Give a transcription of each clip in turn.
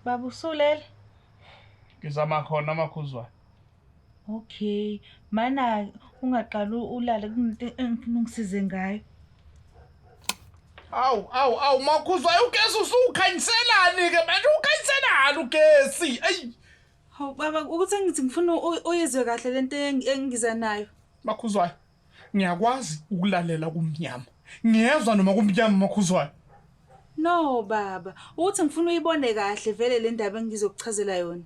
baba usulele ngizama khona amakhuzwayo okay mana ungaqala ulale kunento engifuna ungisize ngayo awu awu awu makhuzwayo ugesi usukhanyiselani-ke manje ukhanyiselani ugesi eyi hawu baba ukuthi ngithi ngifuna uyizwe kahle le nto engiza nayo makhuzwayo Ngiyakwazi ukulalela kumnyama. Ngiyezwa noma kumnyama makhuzwayo. No baba, uthi ngifuna uyibone kahle vele le ndaba engizokuchazela yona.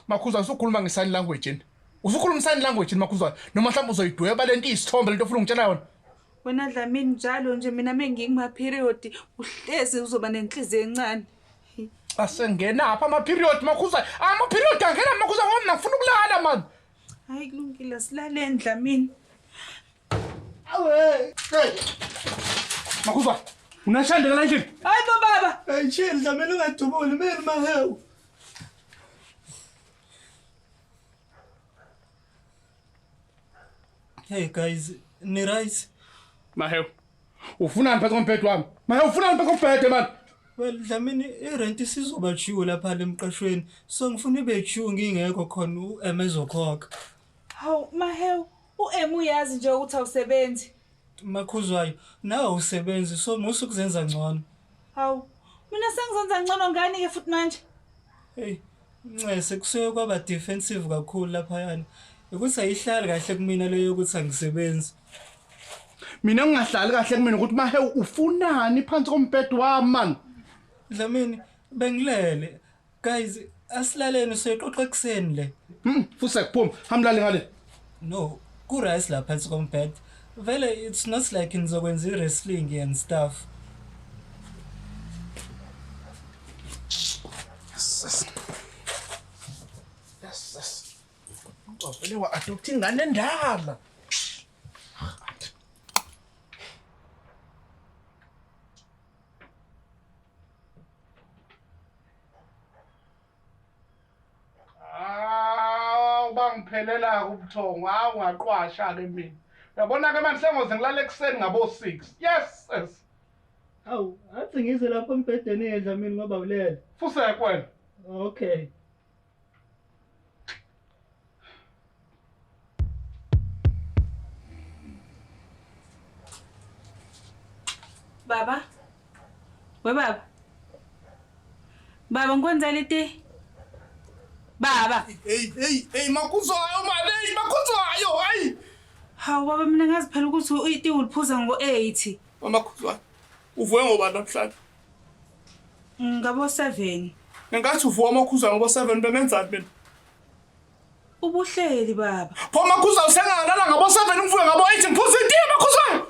Makhuzwayo usukhuluma ngesign language yini? Usukhuluma sign language yini makhuzwayo? Noma mhlawumbe uzoyidweba lento isithombe lento ufuna ungitshela yona? Wena Dlamini njalo nje mina mengikuma period uhlezi uzoba nenhliziyo encane. Asengena apha ama period makhuzwayo. Ama period angena makhuzwayo ngoba mina ngifuna ukulala man. Hayi kulungile silaleni Dlamini. Awe. Hey. Makuza. Unashanda la nje. Hayi bo baba. Hey chill Dlamini ungadubuli mina mahewu. Hey guys, ni right? Mahewu. Ufunani phezu kombhede wami? Manje ufunani phezu kombhede manje? Well Dlamini irent isizoba due lapha lemqashweni. So ngifuna ibe due ngingekho khona uEm ezokhokha. Hawu mahewu uEm uyazi nje ukuthi awusebenzi. Makhuzwayo nawe usebenzi so musa ukuzenza ngcono. Hawu mina sengizenza ngcono ngani ke futhi manje? Hey Ncese kusuke kwaba defensive kakhulu laphayana ukuthi ayihlali kahle kumina leyo yokuthi angisebenzi mina ngingahlali kahle kumina ukuthi mahe ufunani phansi kombhedo wami man dlamini bengilele guys asilaleni soyixoxa ekuseni le hmm, fuse kuphuma hamlale ngale No, ku rice la phansi kombed. Vele it's not like nizokwenza i wrestling and stuff. Vele wa adopt ingane endala. Hawu bangiphelela ubuthongo hawu ngaqwasha ke mina yabona ke manje sengoze ngilale ekuseni ngabo 6 yes yes Awu, athi ngize lapho embhedeni edla mina ngoba ulele. fuseke wena Okay. Baba. We baba. Baba ngikwenzela iti. Baba. Hey hey hey makuzwayo mali hey makuzwayo hey. Hawu baba mina ngazi phela ukuthi uiti uliphuza ngo 80. Mama khuzwayo. Uvuke ngoba namhlanje. Ngabo 7. Ngenkathi uvuka amakhuza ngoba 7 bemenzani mina? Ubuhleli baba. Pho makhuza usengalala ngabo 7 umfuye ngabo 8 ngiphuza itiye makhuza.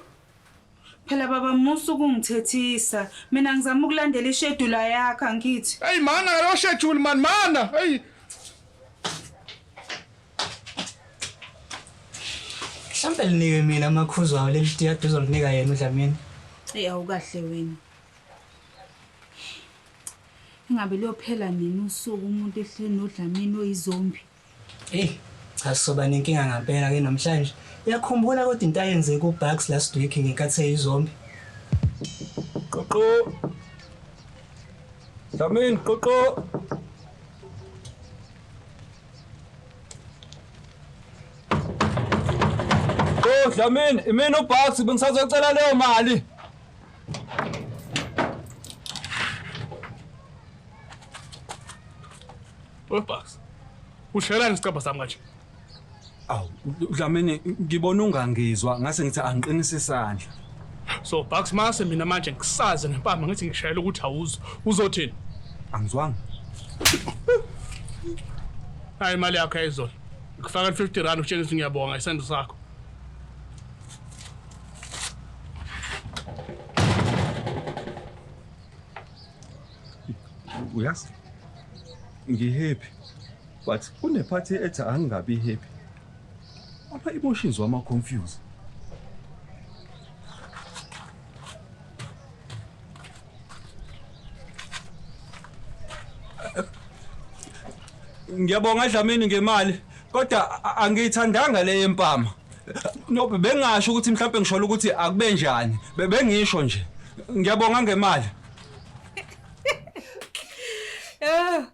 Phela baba musa ukungithethisa. Mina ngizama ukulandela ishedula yakhe angithi. Hey mana yo schedule man mana. Hey. Mhlambe liniwe mina makhuza wawo leli tiya duzo linika yena uDlamini. Hey awukahle wena. Ingabe luyophela nini usuku umuntu ehleli noDlamini oyizombi? Eyi, cha soba nenkinga ngampela ke namhlanje. Uyakhumbula kodwa into ayenzeka uBugs last week ngenkathi eyizombi? Qoqo. Dlamini, qoqo. Dlamini, imina uBugs bengisazocela leyo mali. Webucks. Ushelani isicabha sami kanje? Awu, Dlamini ngibona ungangizwa ngase ngithi angiqinise isandla. So Bucks mase mina manje ngisaze ngempama ngithi ngishayela ukuthi awuzo. Uzothini? Angizwanga. Hayi imali yakho ayizona. Ngifaka 50 rand utshengisa ngiyabonga isandla sakho. uyazi ngihappy but kunephathi ethi angingabi happy apha emotions wama confuse ngiyabonga dlamini ngemali kodwa angiyithandanga le yempama No bengasho ukuthi mhlawumbe ngisholo ukuthi akube njani. Be- Bengisho nje. Ngiyabonga ngemali. Eh,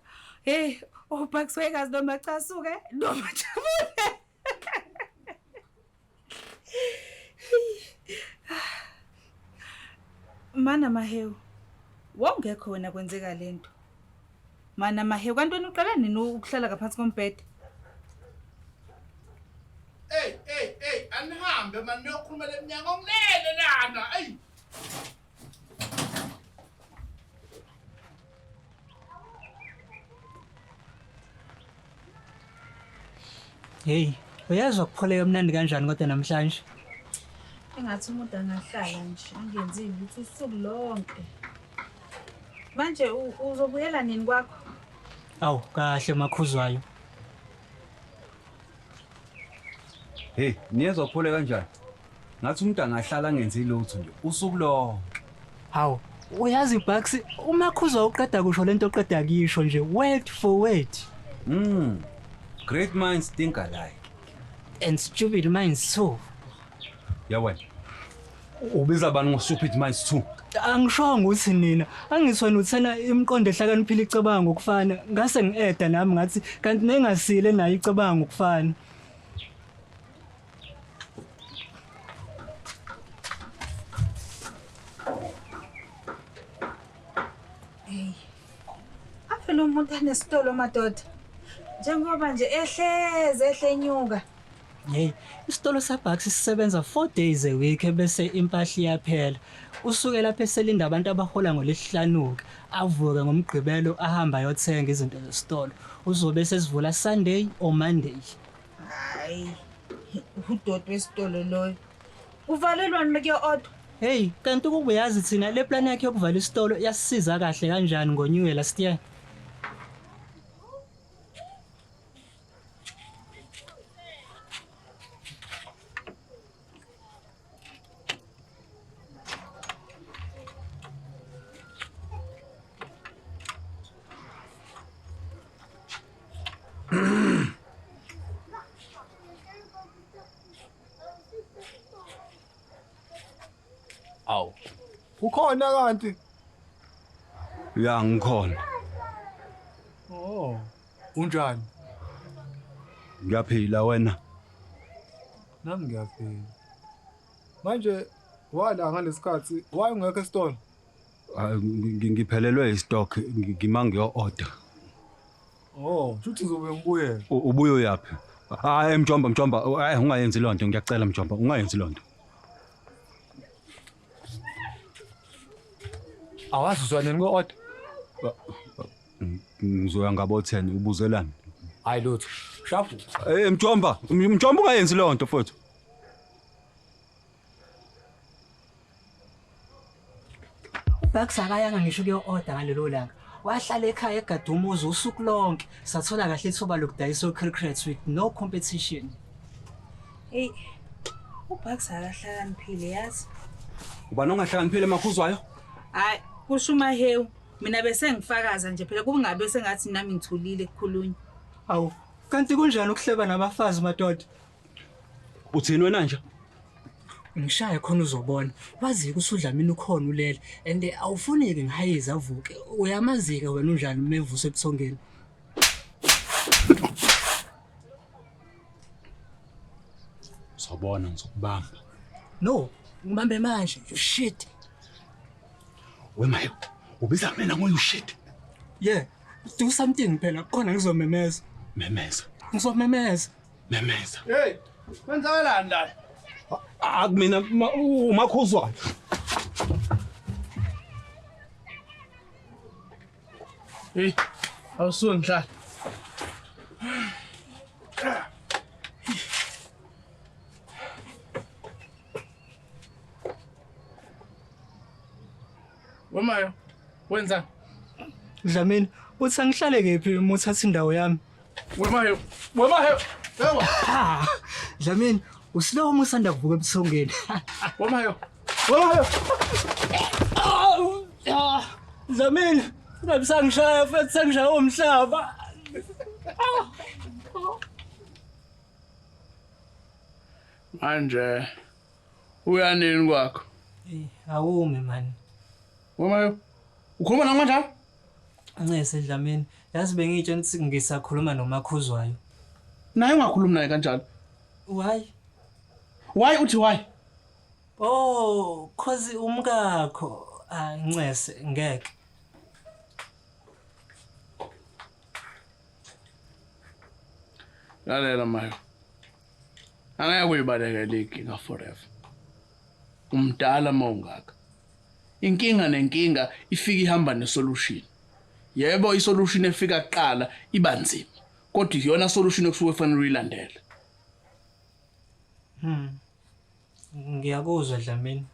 hey, ubhakiswe kazi noma casuke noma jabule. Mana Mahewu, wawungekho wena kwenzeka le nto. Mana Mahewu, kanti wena uqala nini ukuhlala ngaphansi kombhede? Ey, ey, ey, anihambe mani niyokhuluma le mnyango ngilele lana. Ey. Hey, uyazwa kupholeka mnandi kanjani kodwa namhlanje? Engathi umuntu angahlala nje angenzi lutho usuku lonke. Manje uzobuyela nini kwakho? Awu kahle makhuzwayo. Hey, niyezwa kuphole kanjani? Ngathi umuntu angahlala angenzi lutho nje usuku lonke. Hawu, uyazi Bucks, uMakhuza uqeda kusho lento oqeda kuyisho nje word for word. Mm. Great minds think alike. And stupid minds too. Yawena. Ubiza abantu ngo stupid minds too. Angishongo ukuthi nina, angisho nuthena imiqondo ehlakaniphile icabanga ngokufana. Ngase ngieda nami ngathi kanti nengasile nayo icabanga ngokufana. Hey. Avele umuntu anesitolo madoda. Njengoba nje ehleze ehlenyuka. Hey, isitolo saBucks sisebenza 4 days a week bese impahla iyaphela. Usuke lapha eselinda abantu abahola ngolesihlanuka, avuke ngomgqibelo ahamba ayothenga izinto zesitolo. Uzobe sesivula Sunday or Monday. Hayi. Udoti wesitolo loyo. Uvalelwani make order? Hey, kanti ukuba uyazi thina le plan yakhe yokuvala isitolo yasisiza kahle kanjani ngo New Year last year? Awu. Ukhona kanti? Ya ngikhona. Oh. Unjani? Ngiyaphila wena. Nami ngiyafika. Manje wala ngalesikhathi why ungekho esitolo? Ah, ngi- Ngiphelelwe istock ngima ngiyo-order. Oh, shuthi uzobe ngibuyela. U- Ubuye uyaphi? Hayi mjomba mjomba hayi ungayenzi loo nto ngiyacela mjomba ungayenzi loo nto. Awazi uzwaneni ko-order? Ngizoya ngabo 10 ubuzelani? Hayi lutho. Shafu. Eh Mjomba, Mjomba ungayenzi leyo nto mfowethu. Bax akayanga ngisho kuyo-oda ngalelo langa wahlala ekhaya egade umuzi usuku lonke sathola kahle ithuba lokudayisa o-cricrets with no competition eyi ubax akahlakaniphile yazi ubani ongahlakaniphile makhuzwayo hayi kusho umahewu Mina bese ngifakaza nje phela kungabe sengathi nami ngithulile kukhulunywa. Awu, kanti kunjani ukuhleba nabafazi madoda? Uthini wena nje? Ngishaya khona uzobona. Wazi kusudlamini ukhona ulele and awufuneki ngihayiza avuke. Uyamazika wena unjani mevusa ebusongeni. Uzobona ngizokubamba. No, ngibambe manje. Shit. Wemayo, ubiza mina ngoyu shit. Yeah, do something phela khona ngizomemeza. Memeza. Ngizomemeza. Memeza. Hey, kwenzakalani la? Akumina umakhuzwayo. Hey, awusuke ngihlala. Wemayo, wenza. Dlamini, uthi angihlale kephi uma uthatha indawo yami? Wemayo, wemayo. Ewa. Ah, Dlamini, usilowo uma usanda kuvuka ebusongeni. Wemayo. Wemayo. Ah, Dlamini, ngabe sangishaya futhi sangishaya umhlaba. Ah. Manje uya nini kwakho? Eyi, awumi mani. Wemayo. Ukhuluma nami kanjani? Ncese Dlamini, yazi bengitshela ukuthi ngisakhuluma noMakhuzwayo. Naye ungakhulumi naye kanjalo. Why? Why uthi why? Oh, cause umkakho. Ah, Ncese, ngeke. Lalela mayo. Angeke uyibaleke le inkinga forever. Umdala uma ungaka. Inkinga nenkinga ifika ihamba nesolution. Yebo isolution efika kuqala iba nzima kodwa iyona solution okusuke kufanele uyilandele. Hmm. Ngiyakuzwa Dlamini.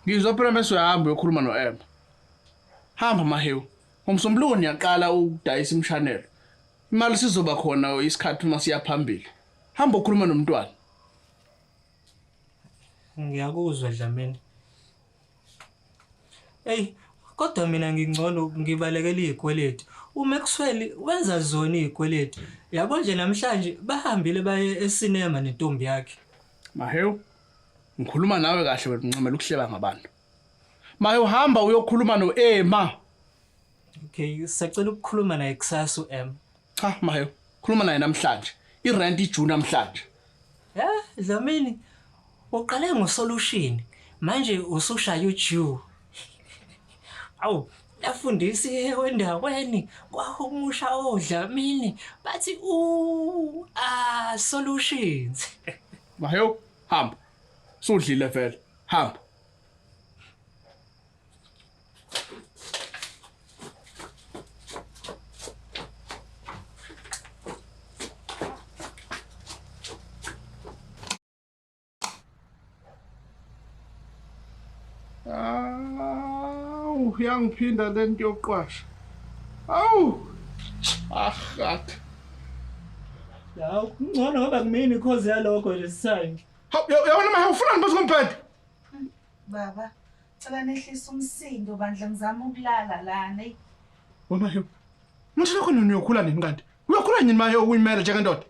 Ngizwa phela bese uyahamba uyokhuluma noEmma. Hamba Mahewu. Ngomsombuluko niyaqala ukudayisa imshanelo. Imali sizoba khona isikhathi uma siya phambili. hamba ukhuluma nomntwana ngiyakuzwa dlamini eyi kodwa mina ngingcono ngibalekela iy'kweletu umaxwell wenza zona iy'kweletu yabo nje namhlanje bahambile baye esinema nentombi yakhe mahewu ngikhuluma nawe kahle wena uncamela ukuhleba ngabantu maye uhamba uyokhuluma no-ema Okay, sacela ukukhuluma naye kusasa uM. Cha mayo, khuluma naye namhlanje. I-rent ijune namhlanje. Eh, Dlamini. Uqale ngosolution. Manje usushaya uJew. Awu, lafundisa ewendaweni kwahumusha oDlamini bathi u a solutions. Mayo, hamba. Sudlile vele. Hamba. Awu, yangiphinda lento yokuqwasha. Awu! Ahat. Yawu, ngcono ngoba kumini cause yalokho nje sisayini. Hawu, yabona manje ufuna ngibese ngomphethe. Baba, cela nehlisa umsindo bandla ngizama ukulala lana. eyi. Wamahewu. Ngisho lokho nini uyokhula nini kanti? Uyokhula nini mahewu ukuyimela njengendoda?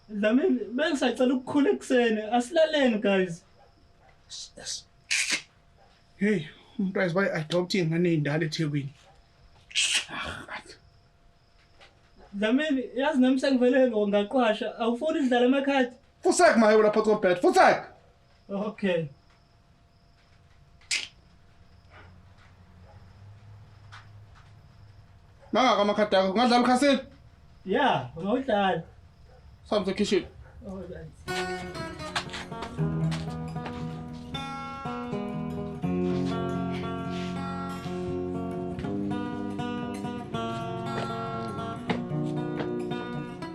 Dlamini, bengisacela ukukhula ekuseni. Asilaleni guys. Yes. Hey, umuntu wazi bayi adopt ingane eyindala eThekwini. Dlamini, yazi nami sengivele ngaqwasha. Awufuni sidlale amakhadi? Futsek mahewu lapha ko bed. Futsek. Okay. Nanga kama khadi yakho. Ungadlala ukhasini? Yeah, ungawudlala. Sambe ekhishini. Oh,